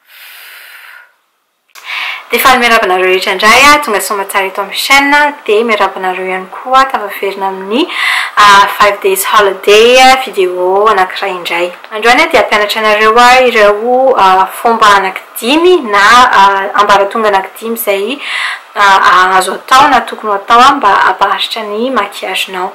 Fff. Efa miarahaba anareo rehetra indray aho tonga soamatsara eto amin'ny chaîne dia miarahaba anareo ihany koa tafaverina amin'ny five days holiday vidéo anankiray indray. Androany aho dia hampianatra anareo aho ireo fomba anankidimy na ambaratonga anankidimy izay azo atao na tokony ho atao mba hampaharitra ny maquillage-nao.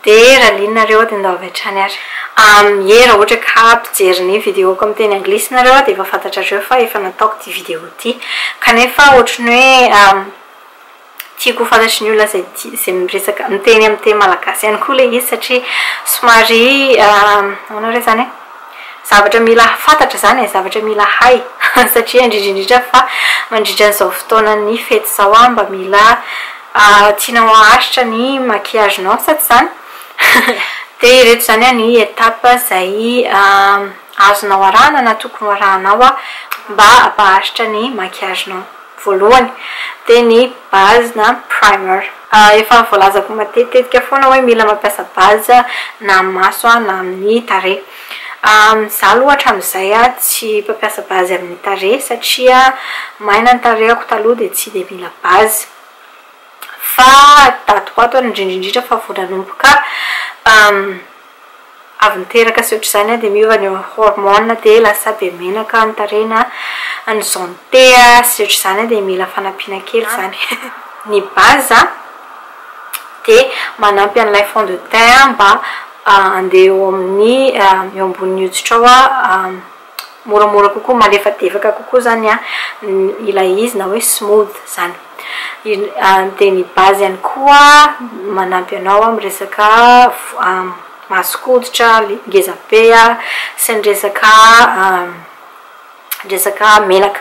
Dia raha liana nareo dia ndao avy hatrany ary. Amie raha ohatra ka mpijery ny video ko amin'ny teny anglisy nareo dia efa fantatrareo fa efa nataoko ity video ity. Kanefa ohatra ny hoe tiako ho fantatry ny olona izay tia izay miresaka miteny amin'ny teny malagasy ihany koa ilay izy satria somary ahoana re izany e? Zavatra mila fantatra izany e, zavatra mila hay satria indrindra indrindra fa mandritra an'izao fotoanan'ny fety izao aho mba mila tianao haharitra ny maquillage-nao sa tsy izany? Dia ireto izany ny étapes izay azonao arahana na tokony ho arahanao mba hampaharitra ny maquillage-nao. voalohany dia ny base na primer. Efa voalazako matetitetika foana hoe mila mampiasa base na amin'ny maso na amin'ny tarehy. Izaho aloha hatramin'izay tsy mpampiasa base amin'ny tarehy satria maina ny tarehiko taloha dia tsy dia mila base. Fa daty ho ato ary indrindra indrindra fa vao nanomboka avy niteraka sy ohatr'izany dia miova ny hormone dia lasa be menaka ny tarehina ny zone T sy ohatr'izany dia mila fanampiana kely izany ny base dia manampy an'ilay fond de teint mba handeha eo amin'ny eo ambonin'ny hoditra ao moramora kokoa, malefadefaka kokoa zany ilay izy na hoe smooth zany, dia ny base ihany koa manampy anao amin'ny resaka maso koditra ngeza be sy ny resaka resaka menaka,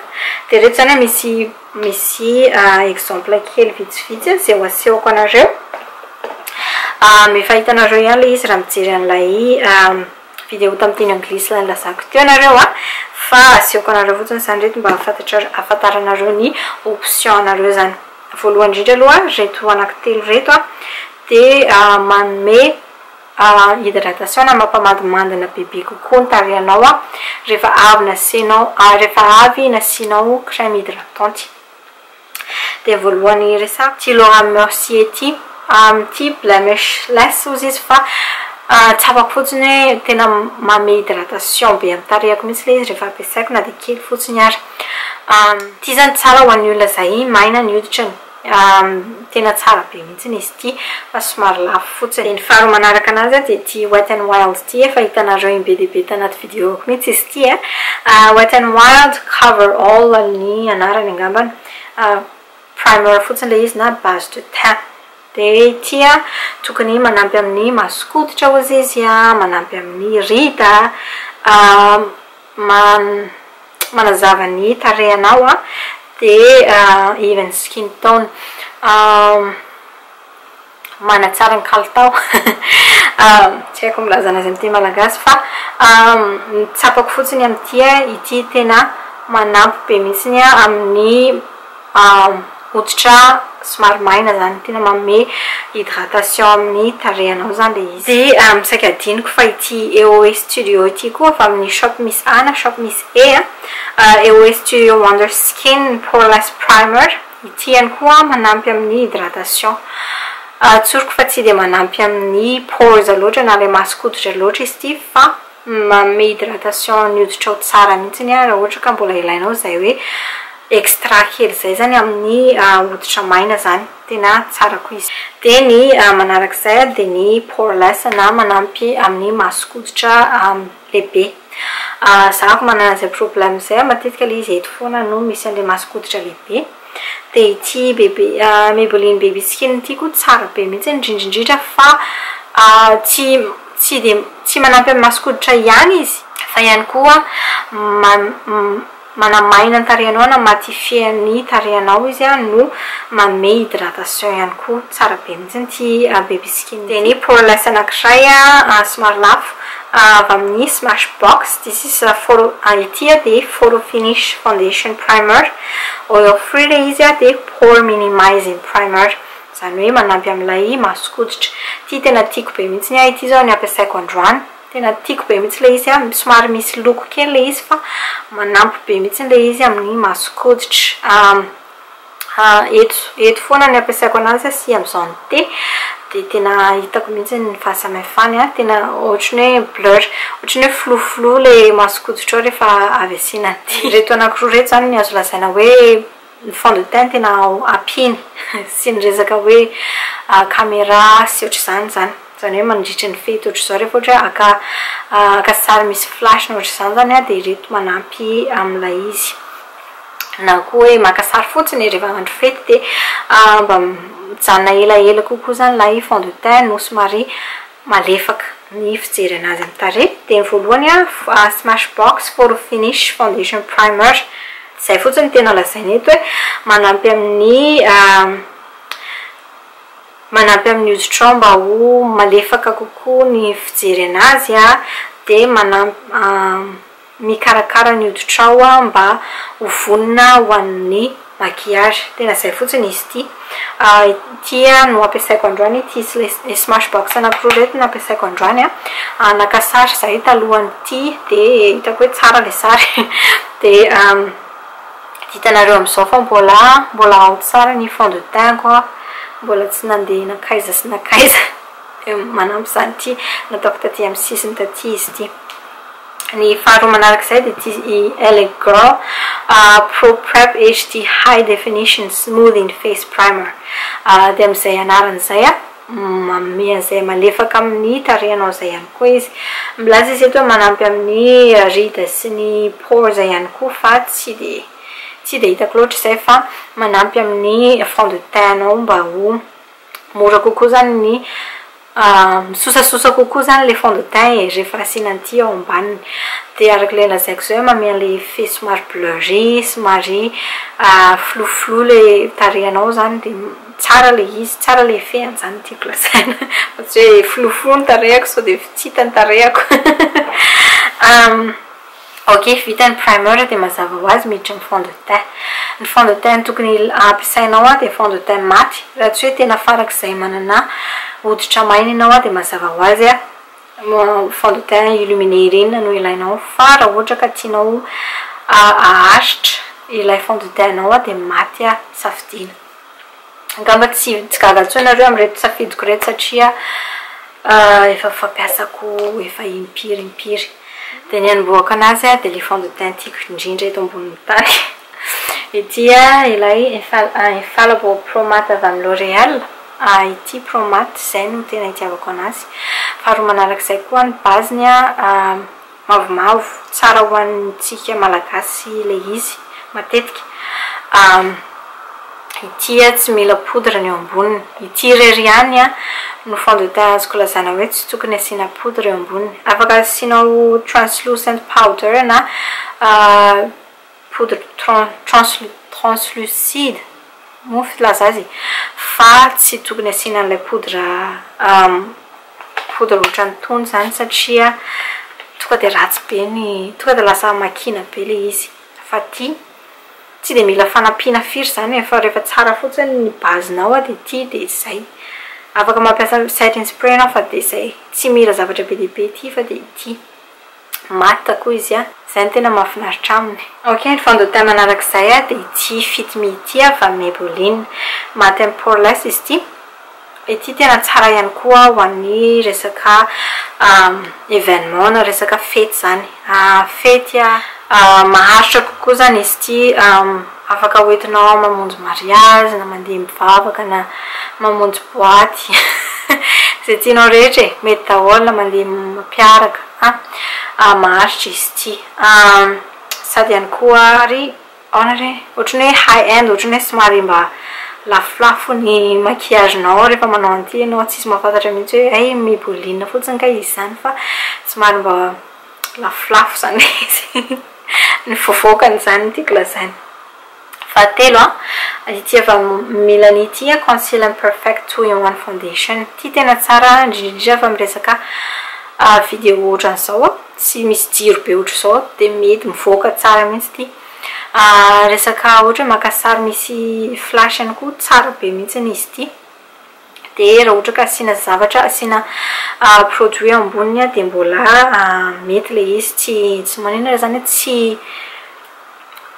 dia ireto zany misy misy exemple kely vitsivitsy izay ho asehoko anareo, efa hitanareo ihany ilay izy raha mijery an'ilay. Video tamin'ny teny anglisy ilay nilazako teo nareo a! Fa asehoko anareo fotsiny izany ireto mba hahafantatrareo, hahafantaranareo ny option anareo izany. Voalohany indrindra aloha, ireto anaky telo ireto a, dia manome hydratation na mampamadimandina bebe kokoa ny tarehinao a, rehefa avy nasianao, rehefa avy nasianao crème hydratante. Dia voalohany hiresahako ity Laura Mercier ity. Amin'ity blemishless hozy izy fa tsapako fotsiny hoe tena manome hydratation be amin'ny tarehiko mihitsy ilay izy rehefa ampiasaiko na dia kely fotsiny ary. Ity izany tsara ho an'ny olona izay maina ny hoditra, tena tsara be mihitsy. tsy nisy ity fa somary lafo fotsiny. Dia ny faharoa manaraka anazy dia ity Wet n Wild ity, efa hitanareo in be dia be tanaty videoko mihitsy izy ity a, Wet n Wild Cover All ny anarany angambany, primer fotsiny ilay izy na base de teint. Dia ity a, tokony manampy amin'ny maso koditra hozy izy a, manampy amin'ny rida a, man manazava ny tarehinao an, dia even skin tone manatsara ny kalitao tsy haiko milaza an'azy amin'ny teny malagasy fa ny tsapako fotsiny amin'ity ity tena manampy be mihitsy amin'ny hoditra somary maina zany tena manome hydratation amin'ny tarehinao zany le izy. Dia saika adinoko fa ity EOE studio ity koa avy amin'ny shop misy A na shop misy E a, EOE studio wonder skin poreless primer, ity ihany koa manampy amin'ny hydratation, tsoriko fa tsy dia manampy amin'ny pores loatra na ilay mason-koditra loatra izy ity fa. Manome hydratation ny hoditrao tsara mihitsy aho raha ohatra ka mbola ilainao izay hoe extra kely izay izany amin'ny hoditra maina izany, tena tsara koa izy. Dia ny manaraka izay dia ny poreless na manampy amin'ny mason-koditra lehibe. Izaho manana izay problème izay, matetika ilay izy eto foana no misy an'ilay mason-koditra lehibe. Dia ity bebe Maybelline baby skin ity koa tsara be mihitsy indrindrindrindra fa tsy tsy dia tsy manampy amin'ny mason-koditra ihany izy fa ihany koa manamaina ny tarehinao na matifie ny tarehinao izy no manome hydratation ihany koa. Tsara be mihitsy ity baby skin ity. Tenue pour less anankiray somary lafo avy amin'ny smash box this is for ity dia for finish foundation primer oil free ilay izy dia pore minimizing primer izany hoe manampy amin'ilay mason-koditra ity tena tiako be mihitsy ahy ity izao ny ampiasaiko androany tena tiako be mihitsy ilay izy somary misy loko kely ilay izy fa manampy be mihitsy ilay izy amin'ny mason-koditra Eto eto foana ny ampiasaiko anazy sy amin'izao ny thé dia tena hitako mihitsy ny fahasamihafany an! Tena ohatran'ny hoe blur, ohatran'ny hoe flou flou ilay mason-koditro ao rehefa avy asiana an'ity. Ireto anankiroa ireto izany no azo lazaina hoe ny fond de teint tena ampiany sy ny resaka hoe caméra sy ohatr'izany izany. Izany hoe mandritra ny fety ohatr'izao rehefa ohatra hoe haka haka sary misy flash na ohatr'izany izany aho dia ireto manampy amin'ilay izy. Na koa hoe maka sary fotsiny e rehefa andro fety dia mba mijanona elaela kokoa izany ilay fond de teint no somary malefaka ny fijery an'azy amin'ny tarehy. Dia ny voalohany a smash box photo finish foundation primer. Izay fotsiny no tena lazaina eto hoe manampy amin'ny Manampy amin'ny hoditrao mba ho malefaka kokoa ny fijery an'azy dia manampy mikarakara ny hoditrao mba ho vonona ho an'ny maquillage. Tena izay fotsiny izy ity. Ity no ampiasaiko androany ity smart box anankiroa ireto no ampiasaiko androany. Naka sary izahay talohan'ity dia hitako hoe tsara ilay sary dia Hitanareo amizao fa mbola mbola ao tsara ny fond de teint ko aho mbola tsy nandeha nankaiza sy nankaiza dia manampy izany ity nataoko taty amin'ny sisiny taty izy ity ny faharoa manarak'izay dia ity i LA girl pro prep HD high definition smoothing face primer dia amin'izay anarany izay Manome an'izay malefaka amin'ny tarehinao izay ihany koa izy. Milaza izy eto hoe manampy amin'ny rides sy ny pores ihany koa fa tsy dia tsy dia hitako loatra izay fa manampy amin'ny fond de teint anao mba ho mora kokoa izany ny misosasosa kokoa izany ilay fond de teint e, rehefa asiana an'ity ao ambaniny. Dia araka ilay lazaiko izay hoe manome an'ilay effet somary blurry, somary flouflou ilay tarehinao izany dia. Tsara le izy, tsara le fehiny zany tiako lazaina fa tsy hoe filofiloa ny tarehako sao dia tsy hita ny tarehako ok vita ny primer dia mazava ho azy miditra ny fond de teint, ny fond de teint tokony hampiasainao dia fond de teint maty raha tsy hoe tena farak'izay manana hoditra maina ianao dia mazava ho azy fond de teint illuminé ireny no ilainao fa raha ohatra ka tianao aharitra ilay fond de teint nao dia maty safidiana. Angamba tsy tsy gaga intsony nareo amin'ireto safidiko ireto satria efa fampiasako efa impiry impiry. Dia ny anombohako anazy dia ilay fond de teint tiako indrindra eto ambonin'ny tany. Ity ilay infallible pro matte avy amin'ny L'oréal, ity pro matte izay no tena itiavako anazy. Faharoa manarak'izay koa ny base-ny an. Mavomavo, tsara ho antsika Malagasy ilay izy, matetika. Ah, ity ah tsy mila poudre ny eo amboniny. Ity irery ihany ah no fond de teint azoko lazana hoe tsy tokony asiana poudre eo amboniny. Afaka asianao translucent powder na ah. poudre translucide moa filaza azy fa tsy tokony asiana an'ilay poudre poudre ohatran'ny tony izany satria tonga dia ratsy be ny tonga dia lasa makiana be ilay izy fa ity tsy dia mila fanampiana firy izany e fa rehefa tsara fotsiny ny base-nao dia ity dia izay afaka mampiasa setting spray ianao fa dia izay tsy mila zavatra be dia be ity fa dia ity maths koa izy an! Izay no tena mahafinaritra aminy. Ok, ny fandotay manaraka izay dia ity fito mi ity avy amin'ny Maybelline. Matte and poreless izy ity. Ity tena tsara ihany koa ho an'ny resaka événement na resaka fety izany. Fety maharitra kokoa izany izy ity. Afaka hoentinao mamonjy mariazy na mandeha mivavaka na mamonjy boaty izay tianao rehetra e, mety daholo mandeha mampiaraka an, maharitra izy ity sady ihany koa ary ahoana re ohatran'ny hoe high end ohatran'ny hoe somary mba lafolafo ny maquillage nao rehefa manao an'ity ianao tsisy mahafantatra mihitsy hoe hay mi-boulina fotsiny kay izy izany fa somary mba lafolafo izany hoe izy no voavoakany izany no tiako lazaina. Fahatelo an, ity avy amin'ny milany ity an, Conceal and Perfect Two in One Foundation. Ity tena tsara indrindra indrindra fa miresaka vidéo ohatran'izao an, tsy misy jiro be ohatr'izao dia mety mivoaka tsara mihitsy ity. Resaka ohatra hoe maka sary misy flash ihany koa, tsara be mihitsy izy ity. dia raha ohatra ka asiana zavatra, asiana produit amboniny dia mbola mety ilay izy, tsy tsy manino aho izany hoe tsy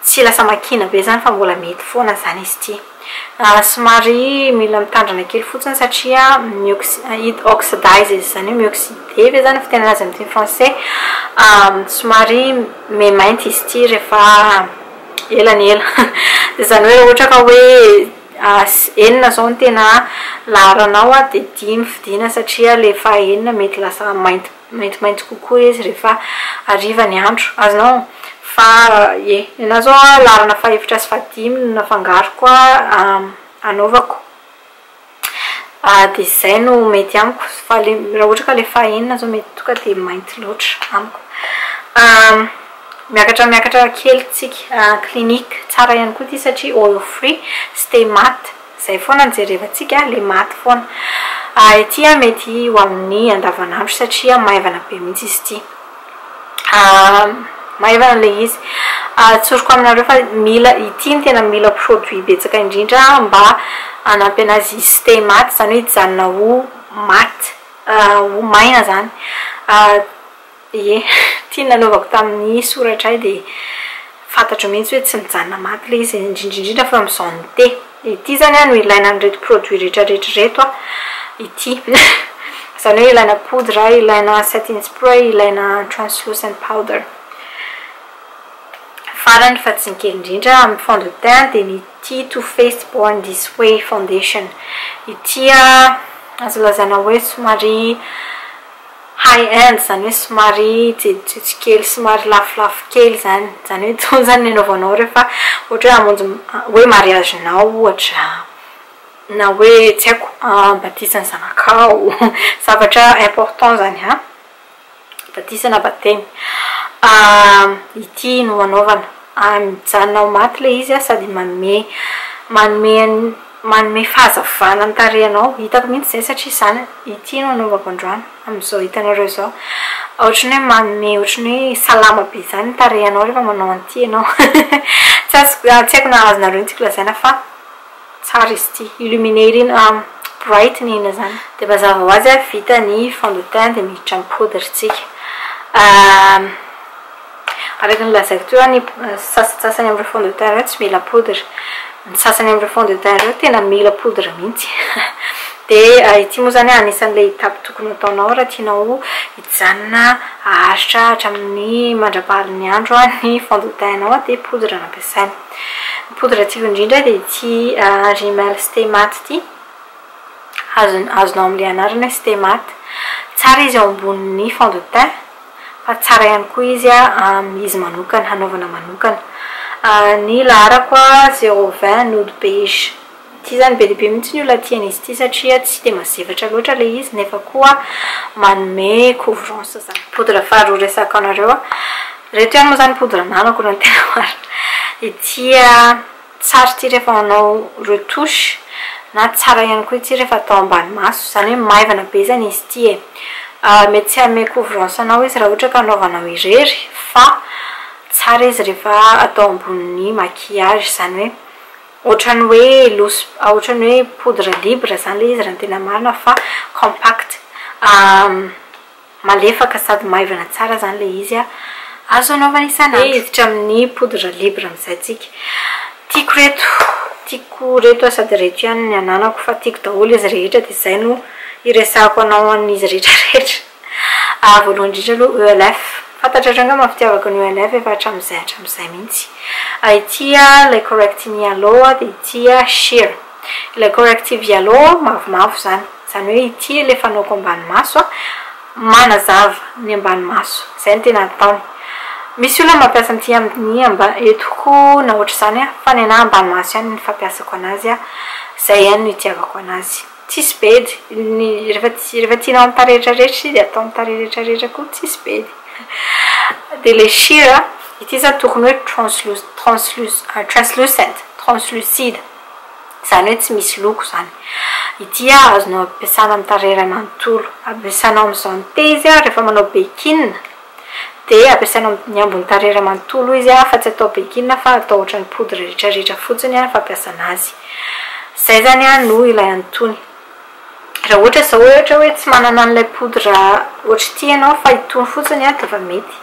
tsy lasa makiana be izany fa mbola mety foana izany izy ity. Somary mila mitandrina kely fotsiny satria mi-oxy- it oxidizes, izany hoe mi-oxyder ve izany no fitenenana azy amin'ny teny frantsay? somary maimainty izy ity rehefa ela ny ela. Izany hoe raha ohatra ka hoe. As, enina zao no tena laharanao a, dia dimy fidiana satria le faha enina mety lasa mainty maintimainty kokoa izy rehefa hariva ny andro. Azonao? Fa ie, nenaha zao a laharana faha efatra sy faha dimy no nafangaroko a anaovako. Dia izay no mety amiko fa le raha ohatra ka le faha enina zao mety tonga dia mainty loatra amiko. Miakatra miakatra kely tsika. Clinic tsara ihany koa ity satria all free tsy te maty. Izay foana no jerevantsika, le maty foana. Ity mety ho amin'ny andavanandro satria maivana be mihitsy izy ity. Maivana ilay izy. Tsoriko aminareo fa mila, ity no tena mila produit betsaka indrindra mba hanampy anazy hi stay maty, izany hoe hijanona ho maty, ho maina izany. Ie, ity nanaovako tamin'ny soratray dia fantatro mihitsy hoe tsy mijanona maty ilay izy, indrindra indrindra fa amin'izao ny thé. Ity izany no ilaina an'ireto produits rehetrarehetra ireto, ity. Izany hoe ilaina poudre, ilaina setting spray, ilaina translucent powder. Farany fa tsy ny kely indrindra amin'ny fond de teint dia ny ity Too Faced Born This Way Foundation. Ity azo lazaina hoe somary. High end izany hoe somary jejojejo kely, somary lafolafo kely izany, izany hoe intsony izany ny anaovanao rehefa ohatra hoe hamonjy hoe mariage nao ohatra, na hoe tsy haiko batisa ny zanakao, zavatra important izany an, batisa na batemy, ity no anaovana, mijanona ao maty ilay izy an, sady manome manome an'i. Manome fahazavana ny tarehinao. Hitako mihitsy izay satria izany ity no anaovako androany amin'izao hitanareo izao. Ohatry ny hoe manome ohatry ny hoe salama be izany ny tarehinao rehefa manao an'ity ianao. Tsy azoko, tsy haiko na azonareo ny tiako lazaina fa tsara izy ity. Illuminer ery na brighten ina izany. Dia mazava ho azy vita ny fond de teint dia miditra amin'ny poudre tsika. Araka ny lazaiko teo, ny sasantsasany amin'ireo fond de teint ireo tsy mila poudre. Ny sasany amin'ireo fond de teint ireo tena mila poudre mihitsy. Dia ity moa izany anisan'ilay étape tokony hataonao raha tianao hijanona haharitra hatramin'ny mandra-paharin'ny andro ny fond de teint anao dia poudre no ampiasaina. Ny poudre tiako indrindra dia ity rimel stay matte ity. Azonao amin'ilay anarana hoe stay matte. Tsara izy eo ambonin'ny fond de teint. fa tsara ihany koa izy am izy manokana hanaovana manokana ny laharako zero vingt node page ty zany be dia be mihitsy ny olona tia an'izy ity satria tsy dia mazevatra loatra ilay izy nefa koa manome couvrance zany poudre faharoa resako anareo ireto ihany moa zany poudre ananako raha ny tena marina ity Tsara ity rehefa manao retouche na tsara ihany koa ity rehefa atao ambany maso, izany hoe maivana be izany izy ity e! mety tsy hanome couvrance anao izy raha ohatra ka anaovanao irery fa tsara izy rehefa atao ambonin'ny maquillage, izany hoe ohatran'ny hoe loose, ohatran'ny hoe poudre libre izany ilay izy raha ny tena marina fa compact. Malefaka sady maivana tsara izany ilay izy a! Azo anaovana isan'andro. Te hiditra amin'ny poudre libre amin'izay tsika. Tiako ireto, tiako ireto aho sady ireto ihany ny ananako fa tiako daholo izy rehetra dia izay no hiresahako anao an'izy rehetra rehetra. Voalohany indrindra aloha ELF. Fantatrareo angamba ny fitiavako an'i ELF efa hatramin'izay hatramin'izay mihitsy. Ity ilay Correct Me Aloe dia ity Sheer. Ilay corrective yellow mavomavo izany, izany hoe ity ilay fanaoko ambany maso, manazava ny ambany maso, izay no tena ataony. Misy olona mampiasa an'ity amin'ny amba eto koa na ohatr'izany fa ny anahy ambany maso ihany no fampiasako anazy, izay ihany no itiavako anazy. Tsisy bedy, ny rehefa rehefa tianao amin'ny tarehy rehetra rehetra izy dia atao amin'ny tarehy rehetra rehetra koa tsisy bedy. Dia ilay sheer, ity izany tokony hoe translus- translus- translucent, translucide. Izany hoe tsy misy loko izany. Ity ah azonao ampiasana amin'ny tarehy iray manontolo. Ampiasanao amin'izany te izy ah rehefa manao bekin, dia ampiasanao amin'ny ambon'ny tarehy iray manontolo izy ah fa tsy atao bekin fa atao ohatran'ny poudre rehetra rehetra fotsiny ah ny fampiasana azy. Izay izany ah no ilay antony. Raha ohatra izao ohatra hoe tsy manana an'ilay poudre ohatra ity ianao fa itony fotsiny dia efa mety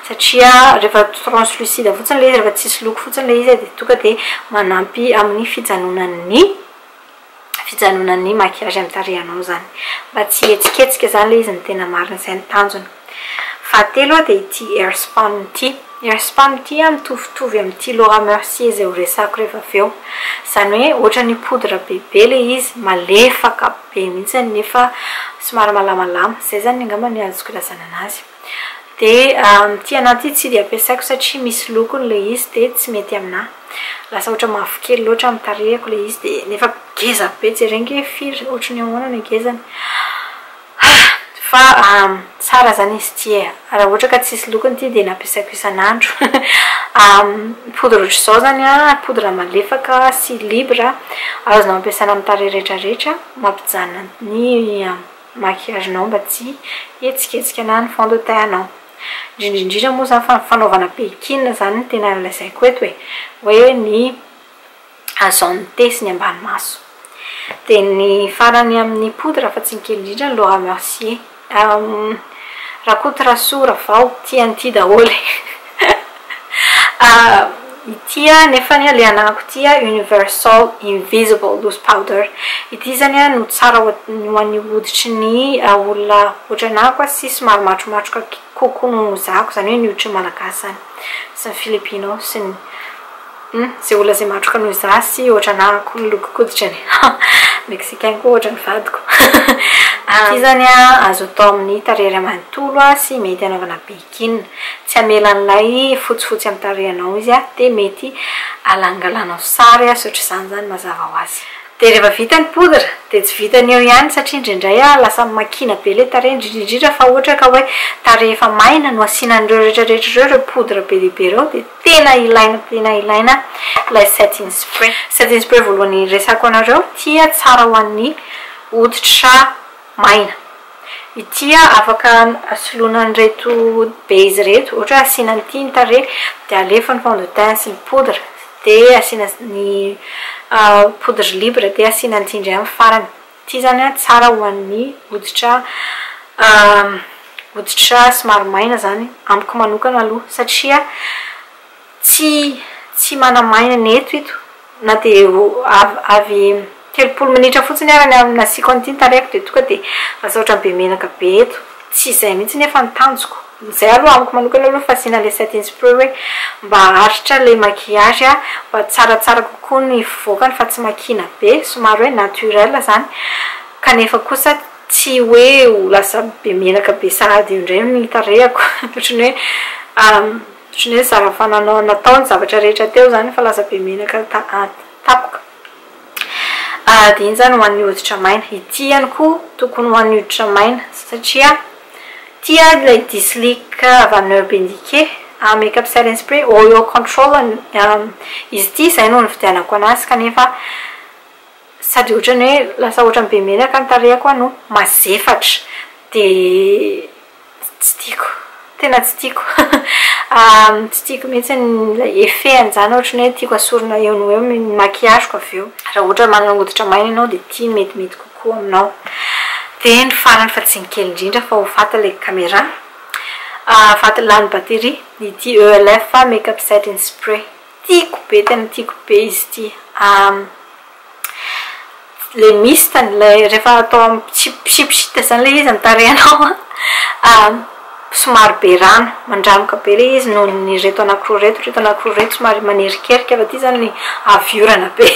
satria rehefa translucide fotsiny ilay izy, rehefa tsisy loko fotsiny ilay izy dia tonga dia manampy amin'ny fijanonan'ny fijanonan'ny maquillage amin'ny tarehinao izany. Mba tsy hihetsiketsika izany ilay izy no tena marina, izay no tanjona. Fahatelo a dia ity Airspan ity. Ny Airspan ity a mitovitovy amin'ity Laura Mercier izay ho resako rehefa avy eo. Izany hoe ohatran'ny poudre bebe ilay izy, malefaka be mihitsiny nefa somary malamalama. Izay izany angamba ny azoko ilazana an'azy. Dia ity anahy ity tsy dia ampiasaiko satria misy lokony ilay izy dia tsy mety aminahy. Lasa ohatran'ny mavokely loatra amin'ny tarehiko ilay izy dia nefa ngeza be. Jereo ange hoe firy, ohatran'ny ahoana ny hagezany. Hah! Fa ahm! tsara zany izy ity e! Raha ohatra ka tsisy lokony ity dia nampiasaiko isan'andro ahm! poudre ohatr'izao zany an! poudre malefaka sy libre azonao ampiasana amin'ny tarehy rehetra rehetra mampijanona ny maquillage nao mba tsy hihetsiketsika na ny fond de teint anao. Indrindra indrindra moa zany fa ny fanaovana pekin zany no tena lazaiko eto e! hoe ny Azo anitesy ny ambany maso. Dia ny farany amin'ny poudre fa tsy ny kely indrindra ny Laura Mercier. Rakotorasoa, Ravao, tia an'ity daholo e. Ity nefany ilay anako ity Universal Invisible Loose Powder. Ity izany no tsara ho an'ny hoditry ny olona ohatranako sy somary matromatroka kokoa noho ny zako, izany hoe ny hoditry ny Malagasy izany sy ny Filipino sy ny. Hum ze olona ze matroka noho za sy ohatra na akoho miloko koditrany ha mexicain koa ohatra ny vadiko aty zany a azo atao amin'ny tarehy iray manontolo a sy mety anaovana bikini tsy hamela an'ilay fotsifotsy amin'ny tarehinao izy a de mety alangalanao sary a sy ohatr'izany zany mazava ho azy de rehefa vita ny poudre de tsy vitan'ny eo ihany satria indraindray a lasa makiana be ilay tarehy indrindra indrindra fa ohatra ka hoe tarehy efa maina no asiana an'ireo rehetra rehetra ireo ireo poudre be dia be ireo de Tena ilaina tena ilaina ilay setting spray. Setting spray voalohany resako anareo tia tsara ho an'ny hoditra maina. Itia afaka soloina an'ireto base ireto ohatra hoe asiana ny tinta re dia alefa ny fond de teint sy ny poudre dia asiana ny poudre libre dia asiana ny tsindry amin'ny farany. Tsy izany an, tsara ho an'ny hoditra hoditra somary maina izany amiko manokana aloha satria tsy tsy manamaina ny eto ito na dia avy telopolo minitra fotsiny ary ny nasiako an'ity ny tarehiko dia tonga dia asaotra be menaka be eto, tsy izay mihitsy anefa ny tanjoko. Izay aloha amiko manokana aloha fa asiana ilay setting spray hoe mba aharitra ilay maquillage a, mba tsaratsara kokoa ny fivoakany fa tsy makiana be, somary hoe naturel izany, kanefa kosa tsy hoe ho lasa be menaka be sahady eo indray ny tarehiko, ohatran'ny hoe ohatran'ny hoe zara-fananao natao ny zavatra rehetra teo izany fa lasa be menaka ta- tapaka. Adino izany ho an'ny hoditra maina. Ity ihany koa tokony ho an'ny hoditra maina satria tia ilay dislike Vanneur Benike Make up setting spray oil control izy ity izay no nividianako anazy kanefa sady ohatran'ny hoe lasa ohatran'ny be menaka ny tarehiko no mazefatra dia Tsy tiako, tena tsy tiako, tsy tiako mihitsy ilay effet an'izany ohatran'ny hoe tiako asorina eo no eo ny maquillage-ko avy eo. Raha ohatra hoe manana hoditra maina ianao dia ity no metimety kokoa aminao. Dia ny farany fa tsy ny kely indrindra fa ho faty ilay camera, faty lany batterie, ity ELF make up setting spray. Tiako be tena tiako be izy ity le mist-ny ilay rehefa atao mipsipsita zany ilay izy ny tarehinao a somary be rano mandranoka be ilay izy noho ny ireto anankiroa ireto ireto anankiroa ireto somary manerikerika fa ity zany avy orana be.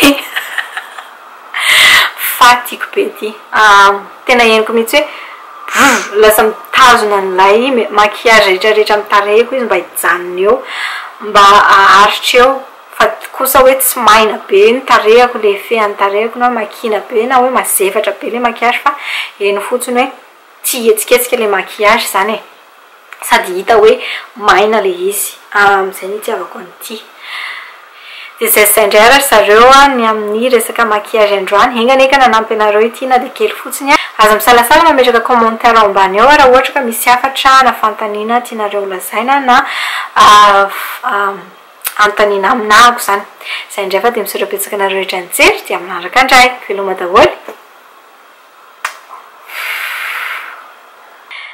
Fa tiako be ity aah tena henoko mihitsy hoe brr lasa mitazona an'ilay maquillage rehetra rehetra amin'ny tarehiko izy mba hijanona eo mba aharitra eo fa kosa hoe tsy maina be ny tarehiko le fean'ny tarehiko na makiana be na hoe mazefatra be le maquillage fa heno fotsiny hoe Tsy hihetsiketsika ilay maquillage izany e! Sady hita hoe maina ilay izy. Amin'izay ny hitiavako an'ity. Dia izay sy izay indray ary ry zareo a, ny amin'ny resaka maquillage androany. Enga anie ka nanampy anareo ity na dia kely fotsiny a! Aza misalasala mametraka commentaire ao ambany ao raha ohatra ka misy hafatra na fanontaniana tianareo holazaina na anontaniana amin'ako izany. Izay indray fa dia misaotra betsaka anareo rehetra nijery dia manaraka indray. Veloma daholo e!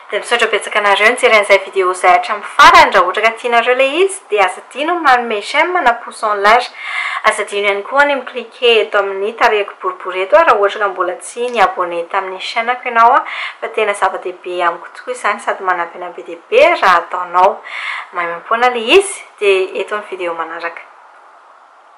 Dia misaotra betsaka anareo nijery an'izay vidéo izay hatramin'ny farany, raha ohatra ka tianareo ilay izy dia aza adino ny manome j'aime na pouce en l'air. Aza adino ihany koa ny mi-cliquer eto amin'ny tarehiko boribory eto raha ohatra ka mbola tsy ni-abonné tamin'ny chaîne-ko ianao fa tena zava-dehibe amiko tokoa izany sady manampy an'ahy be dia be raha ataonao. Maimaimpoana ilay izy, dia eto ny vidéo manaraka.